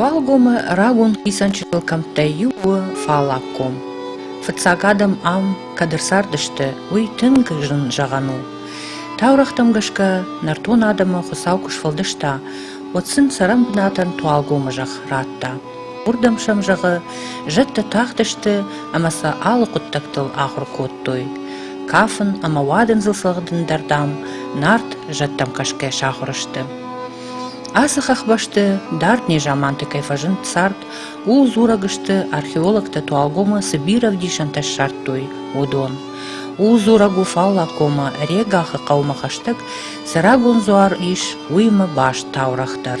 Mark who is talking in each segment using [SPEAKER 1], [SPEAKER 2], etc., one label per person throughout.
[SPEAKER 1] Уӕлгомы рагон хицӕнчытыл кӕмттӕй иу у фаллаг ком. Фыццаг адӕм ам кӕд ӕрцардысты, уый тынг зын зӕгъӕн у. Таурӕгътӕм гӕсгӕ, нӕртон адӕмы Хуыцау куы сфӕлдыста, уӕд сын цӕрӕн бынатӕн Туалгомы зӕхх радта. Уырдӕм сӕм, зӕгъы, зӕдтӕ тахтысты ӕмӕ сӕ алы хъуыддӕгтыл ахуыр кодтой. Кафын ӕмӕ уадындзыл цӕгъдын дӕр, дам, Нарт зӕдтӕм кӕсгӕ сахуыр сты. Ацы хӕхбӕсты дард незаманты кӕй фӕзынд цард, ууыл дзурӕг сты археологтӕ Туалгомы цы бирӕ ӕвдисӕнтӕ ссардтой, уыдон. Ууыл дзурӕг у Фаллакомы Регахы хъӕумӕ хӕстӕг цы рагон дзуар ис, уыимӕ баст таурӕгъ дӕр.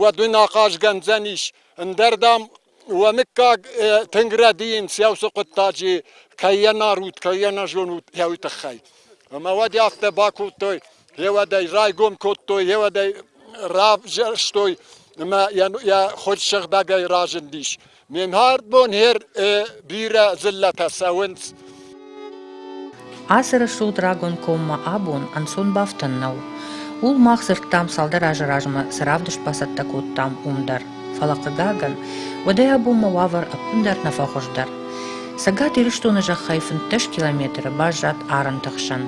[SPEAKER 1] уӕд уын ахъаз кӕндзӕнис. Ӕндӕр, дам, уӕ мыггаг тынг рӕдийынц йӕ хъуыддаджы, кӕй йӕ нарут, кӕй йӕ нӕ зонут, йӕ тыххӕй. Ӕмӕ уӕд афтӕ бакодтой, йеуӕдӕй райгом кодтой, йеуӕдӕй равзӕрстой ӕмӕ йӕ хорз сыгъдӕгӕй разындис. Мен хӕрдбон хер бирӕ дзыллӕтӕ цӕуынц. Ацы рӕсугъд рагон коммӕ абон ӕнцон бафтӕн нӕу. Ул мах дзырдтам цалдӕр азы размӕ цы равдыст бацӕттӕ кодтам, уым дӕр. Фӕлӕ хъыгагӕн, уӕдӕй абонмӕ уавӕр ӕппындӕр нӕ фӕхуыздӕр. Цӕгат Ирыстоны зӕххӕй фынддӕс километры баззад арӕнты хсӕн.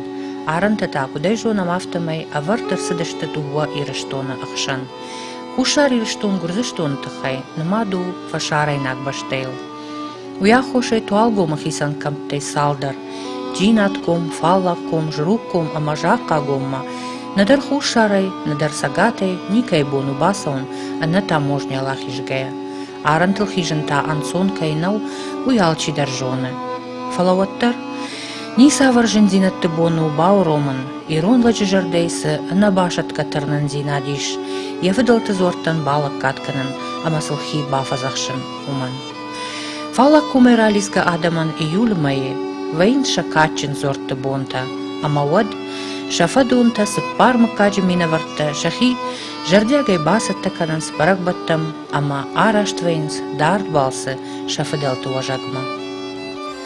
[SPEAKER 1] Арӕнтӕ та, куыд ӕй зонӕм, афтӕмӕй ӕвӕрд ӕрцыдысты дыууӕ Ирыстоны ӕхсӕн. Хуссар Ирыстон Гуырдзыстоны тыххӕй нымад у фӕсарӕйнаг бӕстӕйыл. Уый аххосӕй Туалгомы хицӕн кӕмттӕй цалдӕр – Джинатком, Фаллагком, Жругком ӕмӕ Захъхъагоммӕ нӕдӕр хуссарӕй, нӕдӕр цӕгатӕй никӕй бон у бацӕуын ӕнӕ таможнӕйыл ахизгӕйӕ. Арӕнтыл хизын та ӕнцон кӕй нӕу, уый алчидӕр зоны. Фӕлӕ уӕддӕр ницавӕр зындзинӕдты бон у бауромын Ирон лӕджы зӕрдӕйы цы ӕнӕбасӕтгӕ тырнындзинад ис, йӕ фыдӕлты дзуӕрттӕн балӕггад кӕнын ӕмӕ сыл хи бафӕдзӕхсын, уымӕн. Фӕлӕ комӕй ралидзгӕ адӕмӕн июлы мӕйы вӕййынц сӕ кадджын дзуӕртты бонтӕ, ӕмӕ уӕд сӕ фӕдонтӕ, цыппар мыггаджы минӕвӕрттӕ сӕхи зӕрдиагӕй бацӕттӕ кӕнынц бӕрӕгбӕттӕм ӕмӕ араст вӕййынц дард балцы сӕ фыдӕлты уӕзӕгмӕ.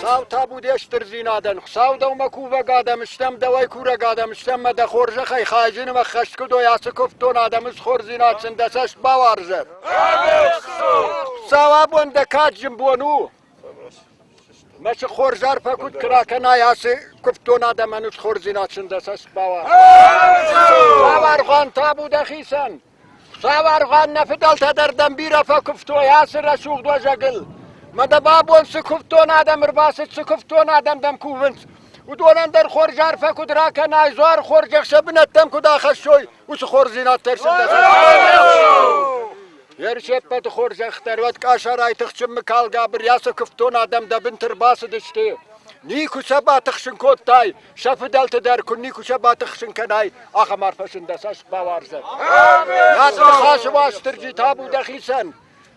[SPEAKER 1] Сау табу де стырдзинадӕн, Хуыцау дӕумӕ кувӕг адӕм стӕм, дӕуӕй курӕг адӕм стӕм мӕ дӕ хорзӕхӕй хайджыны мӕ хӕсткуыдой ацы куывдтон адӕмы схордзинад сын дӕ цӕст бауарзӕд! Хуыцау абон дӕ кад зын бон у! Мӕсыг хорз арфӕ куд ка ракӕнай, аци кувддон адӕмӕн удхордзинад синдӕсӕс бауа. Цавӕргъан табу дӕхицӕн! Цавӕргъан нӕ фыдӕлтӕ дӕр дӕм бирӕ фӕкувтой ацы рӕсугъд уӕзӕгыл. Мӕ дӕ бабон цы кувддон адӕм ӕрбацыд, цы кувддон адӕм дӕм кувынц, уыдонӕн дӕр хорз арфӕ куыд ракӕнай, дзуар хорз ӕхсӕ бынӕттӕм куыд ахӕссой, уыцы хорздзинад дӕр синдӕсӕс. Ныр се ппӕты хорзӕхдӕр уӕд къӕсӕрӕй тыхджынмӕ калгӕ бырӕсы куывддон адӕм дӕ бынты рбацыдысты. Никуы сӕ батыхсын кодтай, сӕ фыдӕлты дӕр куы никуы сӕ батыхсын кӕнай, ахӕм арфӕсын дӕ цӕст бауарзӕд. Над ныхасы Уастырджи табу дӕхицӕн!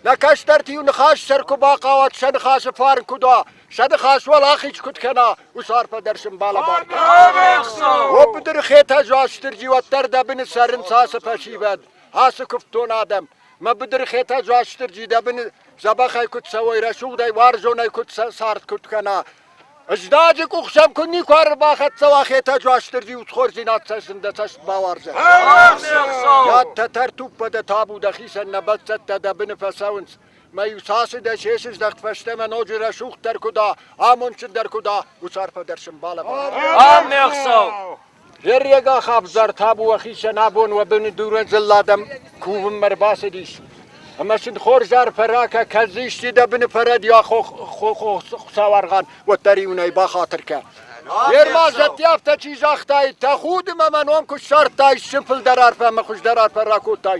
[SPEAKER 1] Нӕ кӕстӕрты-иу ныхас сӕр куы бахъӕуат, сӕ ныхасы фарн куыд уа, сӕ ныхас уал ахиз куыд кӕна, уыцы арфӕ дӕр сын балӕбӕркӕн. О быдыры Хетӕг Уастырджи уӕддӕр дӕ быны цӕрынц ацы фӕсивӕд. Ацы куывддон адӕм, мӕ быдырхетӕ Дзуастырджи дӕ быны дзӕбӕхӕй куыд цӕуой, рӕсугъдӕй, уарзонӕй куыд сӕ цард куыд кӕна. Ыздаджы къухсӕм куы никуы ӕрбахӕццӕ уа Хетӕ Дзуастырджи удхордзинад цӕсын дӕ цӕст бауарзӕд. Йӕдтӕ тӕртуппа дӕ табу дӕхицӕн нӕ бӕлццӕттӕ дӕ быны фӕцӕуынц. Мӕ-иу цасы дӕ се сыздӕхт фӕстӕмӕ ноджы рӕсугъддӕр куы дӕ, амондджындӕр куы дӕ, уыцы арфӕ дӕр сын балӕвар. Ам, ме хсӕв! Зӕрриагӕ хӕвзар табуа хицӕн абон уӕ быны дурӕ дзылладӕм кувынмӕ рбацыдис. Ӕмӕ сын хорз арфӕ ракӕ, кӕд исчи дӕ быны фӕрӕдийа хуцауаргъан, уӕддӕр иунӕй бахатыр кӕ. Ерма зӕдти афтӕ чи загътай, тӕ худы мӕмӕ ном куы ссардтай, сыфылдӕр арфӕ ӕмӕ хуыздӕр арфӕ ракодтай.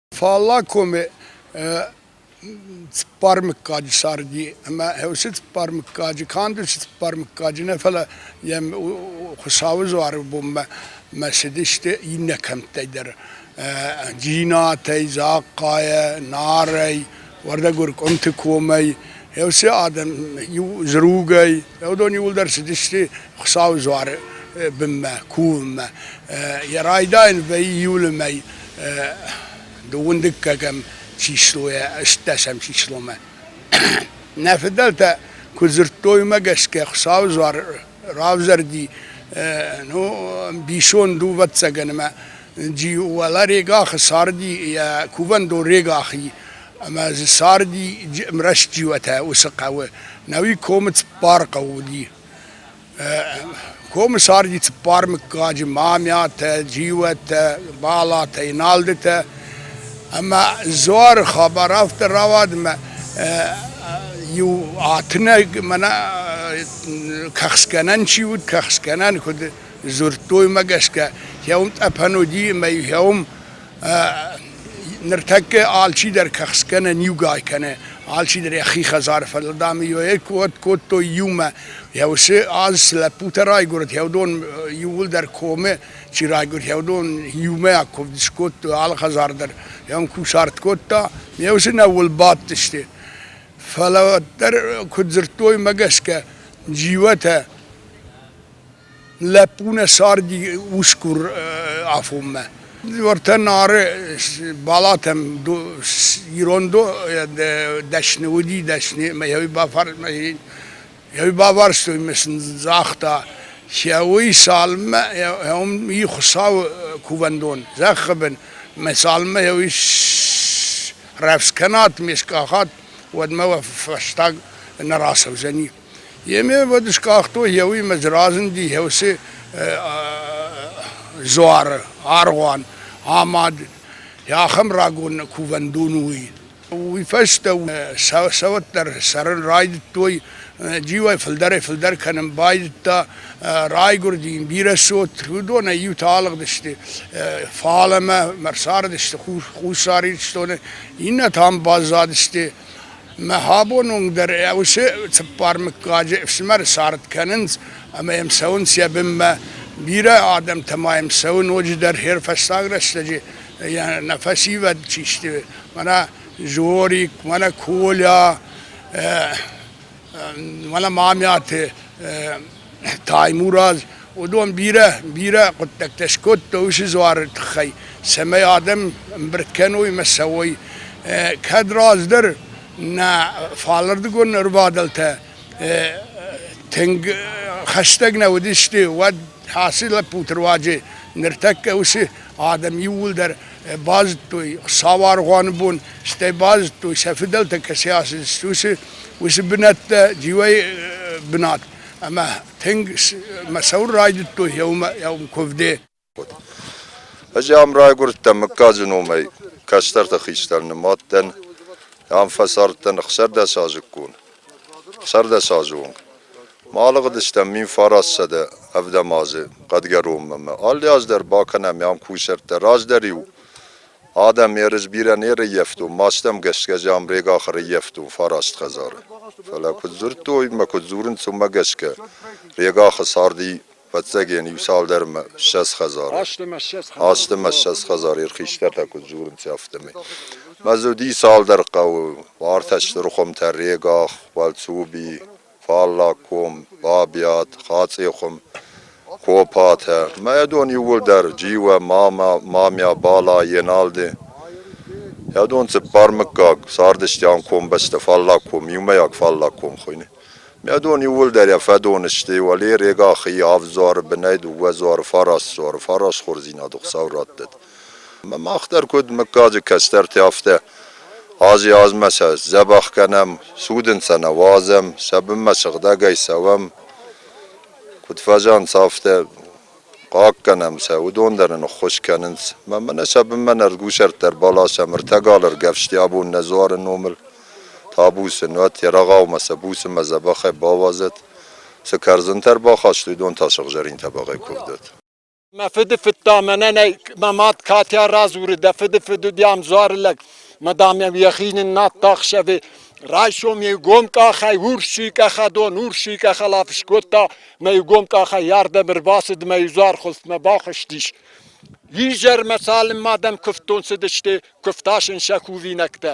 [SPEAKER 1] Фаллаг коми цыппар мыггаджы царди ӕмӕ уыцы цыппар мыггаджы канд уыцы цыппар мыггаджы нӕ, фӕлӕ йӕм Хуыцауы дзуары бонмӕ мӕ цыдысты иннӕ кӕмттӕй дӕр. Джинатӕй, Захъхъайӕ, Нарӕй, Уӕрдӕгур къуымты комӕй все адӕм иу зругӕй, уыдон иуылдӕр цыдысты Хуыцауы дзуары бынмӕ, кувынмӕ. Йӕ райдайын вӕййы июлы мӕй дыууындыггӕгӕм числойӕ ӕстдӕсӕм числомӕ. Нӕ фыдӕлтӕ куы дзырдтой уымӕ гӕсгӕ Хуыцауы дзуар равзӕрди, ну, ӕмбисон дувӕццӕгӕн ӕмӕ Джи уӕлӕ регахы царди йӕ кувӕндон регахи ӕмӕ дзы царди рӕстджиотӕ уыцы хъӕуы. Науи комы цыппар хъӕу уыди. Комы царди цыппар мыггаджы: Мамиатӕ, Джиуӕттӕ, Балатӕ, Иналдытӕ. Ӕмӕ Дзуары хабар афтӕ рауад, ӕмӕ иу атынӕг мӕнӕ кӕхцгӕнӕн чи уыд, кӕхцгӕнӕн куыд Дзырдтоймӕ гӕсгӕ, хеум тъӕпӕн уыди ӕмӕ хеум ныртӕккӕ алчидӕр кӕхцгӕ нӕ ниугай кӕны, алчидӕр йӕхи хӕдзары фӕдыл, дам, уӕд кодтой иумӕ. Йӕ уыцы аз цы лӕппутӕ райгуырд, уыдон иууылдӕр комы чи райгуырд, уыдон иумӕ куывд скодтой, алы хӕдзар дӕр йӕм кусарт кодта, ме усы нӕууыл бадтысты. Фӕлӕ дӕр, куыд дзырдтой мӕ гӕсгӕ, джиуатӕ лӕппу нӕ царди усгур афонмӕ. Уӕртӕ Нары балатӕм ирон дӕсны уыди, дӕсны мӕ баварстой мӕ сын загъта, уый цалынмӕ и Хуыцауы кувӕндон, зӕххы бын, мӕ цалынмӕ уый рӕвдз кӕнат, ме скъахат, уӕдмӕ уӕ фӕстаг нӕ рацӕудзӕни. Емевӕд скъахтой еуимӕ дзы разынди еусе дзуары аргъуан, амад. Ахӕм рагон кувӕндон уый. Уый фӕстӕ цӕвӕт дӕр цӕрын райдыдтой, джиуӕй фылдӕрӕй-фылдӕр кӕнын байдыдта. Райгуырди йын бирӕ цот, уыдонӕй иутӕ алыгъдысты фалӕмӕ, ӕрцардысты Хуссар Ирыстоны, иннӕтӕ ам баззадысты. Мӕ абон уынг дӕр уыцы цыппар мыггаджы ӕфсымӕры цард кӕнынц ӕмӕ йӕм цӕуынц йӕ бынмӕ. Бирӕ адӕмтӕ ма йӕм цӕуы ноджыдӕр хӕрфӕстаг рӕстӕджы йӕ нӕ фӕсивӕд чи сты, мӕнӕ Жорик, мӕнӕ Коля, мӕнӕ Мамӕты Таймураз уыдон бирӕ, бирӕ хъуыддӕгтӕ скодтой уыцы дзуары тыххӕй, цӕмӕй адӕм ӕмбырд кӕной ӕмӕ цӕуой. Кӕд раздӕр нӕ фалырдыгон ӕрбадӕлтӕ тынг хӕстӕг нӕ уыдысты, уӕд ацы лӕппуты руаджы ныртӕккӕ уыцы адӕм иууылдӕр базыдтой сауаргъуаны бон, стӕй базыдтой сӕ фыдӕлтӕ кӕцӕй ацыдысты, уыцы, уыцы бынӕттӕ дивӕй бынат. Ӕмӕ тынг мӕ цӕуын райдыдтой еумӕ еум куывде. Ӕз ам райгуырдтӕн мыггаджы номӕй, кӕстӕрты хистӕр нымадтӕн, ам фӕцардтӕн ӕхсӕрдӕсазыккон, ӕхсӕрдӕсазы онг. Ма алыгъдыстӕм мин фараст сӕдӕ ӕвдӕм азы хъӕдгӕронмӕ ӕмӕ алы аз дӕр бакӕнӕм ӕм кусӕрттӕ. Раздӕр-иу адӕм ерыс бирӕ не рыййӕфтон, мастӕм гӕсгӕ Замбрег ахы рыййӕфтон фараст хӕдзары. Фӕлӕ куыд дзырдтой мӕ куыд дзурынц, уымӕ гӕсгӕ Регахы царди фӕццӕгӕн иу-цалдӕрмӕ ссӕдз хӕдзары. Азтымӕ ссӕдз хӕдзары ирхистӕртӕ куыд дзурынц, афтӕмӕй. Мӕ дзы уыди цалдӕр хъӕуы, ӕртӕ стыр хуымтӕ, Регах, Уӕлцуби, фаллаг ком, бабиат, хацъехъум, копатӕ. Мӕ дон иууылдӕр Джиуӕ, мамӕ, мамӕ, Бала, Еналди. Йӕ дон цыппар мыггаг цардысты ам комбӕсты фаллаг ком, иумӕйаг фаллаг ком хуыйны. Мӕ дон иууылдӕр йӕ фӕдон сты, уӕле Регахи, Авдзуары бынӕй дыууӕ дзуары фарас, дзуары фарасхордзинады Хуыцау раттӕд. Мах дӕр куд муггаджи кӕстӕрти, афтӕ ази-азмӕ сӕ дзӕбӕх кӕнӕм, цудӕнцӕ нӕ уадзӕм, сӕ бунмӕ сыгъдӕгӕй цӕуӕм, куд фӕзӕнцӕ, афтӕ хъаггӕнӕм сӕ, уыдон дӕр нын ӕххуыс кӕнынц. Ма мӕнӕ сӕ бынмӕ нӕ рдгусӕрттӕ ӕрбаласӕм, ӕртӕгал ӕргӕвсти абон нӕ дзуары номыл табусы, нуӕт Ерагъаумӕ сӕ буцмӕ дзӕбӕхӕй бауадзӕт, цы кӕрдзынтӕ ӕрбахаст, уыдон та сыгъзӕрин тӕбӕгъӕй куывдӕт. Мӕ фыды фыдта, мӕнӕн ӕй мӕ мад Катя радзуры, дӕ фыды фыд уыди ӕмдзуары лӕг. Мадамӕм йӕхи ныннадта ӕхсӕвы. Райсом иу гом къахӕй урсый къахадон, урсый къахал афыс кодта, мӕ иу гом къахӕй ардӕм ӕрбацыд мӕ изуар хуылфмӕ бахызтис. Изӕрмӕ цалынмӕ адӕм куывдтон цыдысты, куывта сын сӕ кувинӕгтӕ.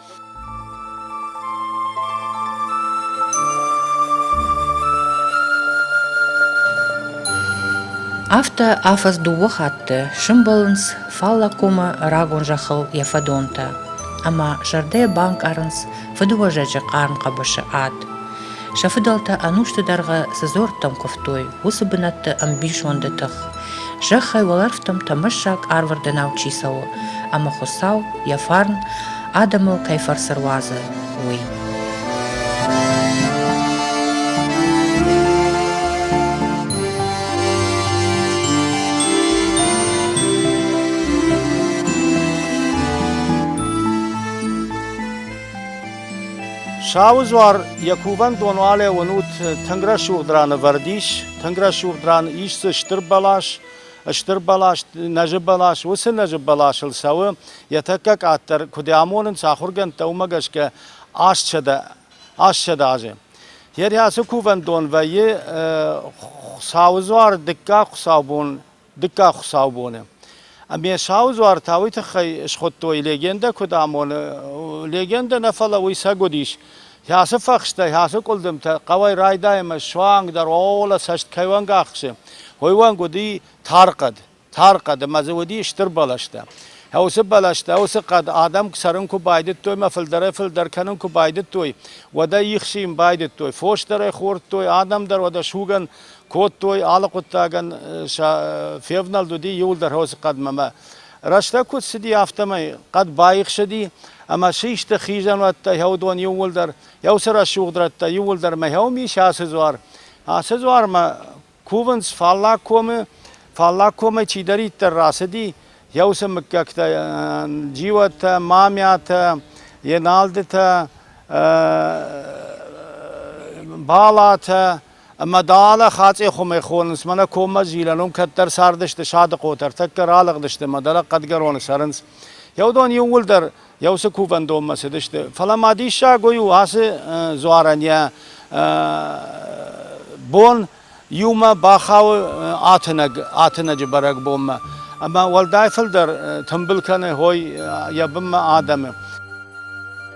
[SPEAKER 1] Афтӕ афӕдз дыууӕ хатты сӕмбӕлынц Фаллагомы рагон зӕххыл йӕ фӕдонтӕ, ӕмӕ зӕрдӕйӕ банкъарынц фыдыуӕзӕджы хъарм хъӕбысы ад. Сӕ фыдӕлтӕ ӕнусты дӕргъы цы дзуӕрттӕм куывтой, уыцы бынӕтты ӕмбисонды тых. Зӕххӕй уӕлӕрвтӕм тӕмӕссаг арвырдӕнау чи цӕуы, ӕмӕ Хуыцау йӕ фарн адӕмыл кӕй фӕрцы руадзы, уый. Сауызуар йӕ кувӕндон алӕууын ут тынг рӕсугъд раны вӕрд ис, тынг рӕсугъд ран ис дзы стыр бӕлас, стыр бӕлас, нӕзы бӕлас, уыцы нӕзы бӕласыл цӕуы, йӕ тӕккӕ къаддӕр куыд амонынц ахуыргӕндтӕ, уымӕ гӕсгӕ ассӕдӕ, ассӕдӕ азы. Йе рхӕцы кувӕндон вӕййы Сауызуар дыккаг хуыцаубон дыккаг хуыцаубоны. Ӕмӕ Сау дзуар та уый тыххӕй схуыдтой легендӕ куыд амоны. Легендӕ нӕ фӕлӕ уый сӕг уыдис. Ацы фӕхстӕй, ацы къуылдымтӕ хъӕуӕй райдайӕмӕ суангдӕр ола цӕст кӕй уӕнг ахсы, уый уӕнг уыди тар хъӕд. Тар хъӕд ӕмӕ дзы уыди стыр бӕлӕстӕ. Уыцы бӕлӕстӕ, уыцы хъӕд адӕм цӕрын куы байдыдтой ӕмӕ фылдӕрӕй-фылдӕр кӕнын куы байдыдтой, уӕдӕй ихсийын байдыдтой, фос дӕр ӕй хордтой, адӕм дӕр уӕдӕ сугӕн кодтой, алы хъуыддагӕн февнӕлд уыди иуылдӕр хосы хъӕдмӕ. Рӕстӕг куыд цыди, афтӕмӕй хъӕд баихсыди, ӕмӕ систы хизӕнуӕттӕ хӕудон иууылдӕр, еусы рӕсугъд рӕттӕ иууылдӕр мӕхӕуым ис ацы дзуар. Ацы дзуармӕ кувынц фаллаг комы, фаллаг комӕй чидӕриддӕр рацыди, еусы мыггӕгтӕ джиуӕттӕ, мамӕтӕ, еналдытӕ, балатӕ, Ӕмӕ дӕлӕ Хацъехъумӕ хонынц, мӕнӕ коммӕ Зилӕн уым кӕддӕр цардысты садыхъотӕ, ӕртӕккӕ ралыгъдысты мӕ дӕлӕ Хъӕдгӕроны цӕрынц. Еу дон иууылдӕр йӕ уыцы кувӕндонмӕ цыдысты. Фӕлӕ ма диссаг уый у, ацы дзуарӕн йӕ бон иумӕ бахауы атынӕг, атынӕджы бӕрӕгбонмӕ. Ӕмӕ уӕлдай фылдӕр тымбыл кӕны хой йӕ бынмӕ адӕмы.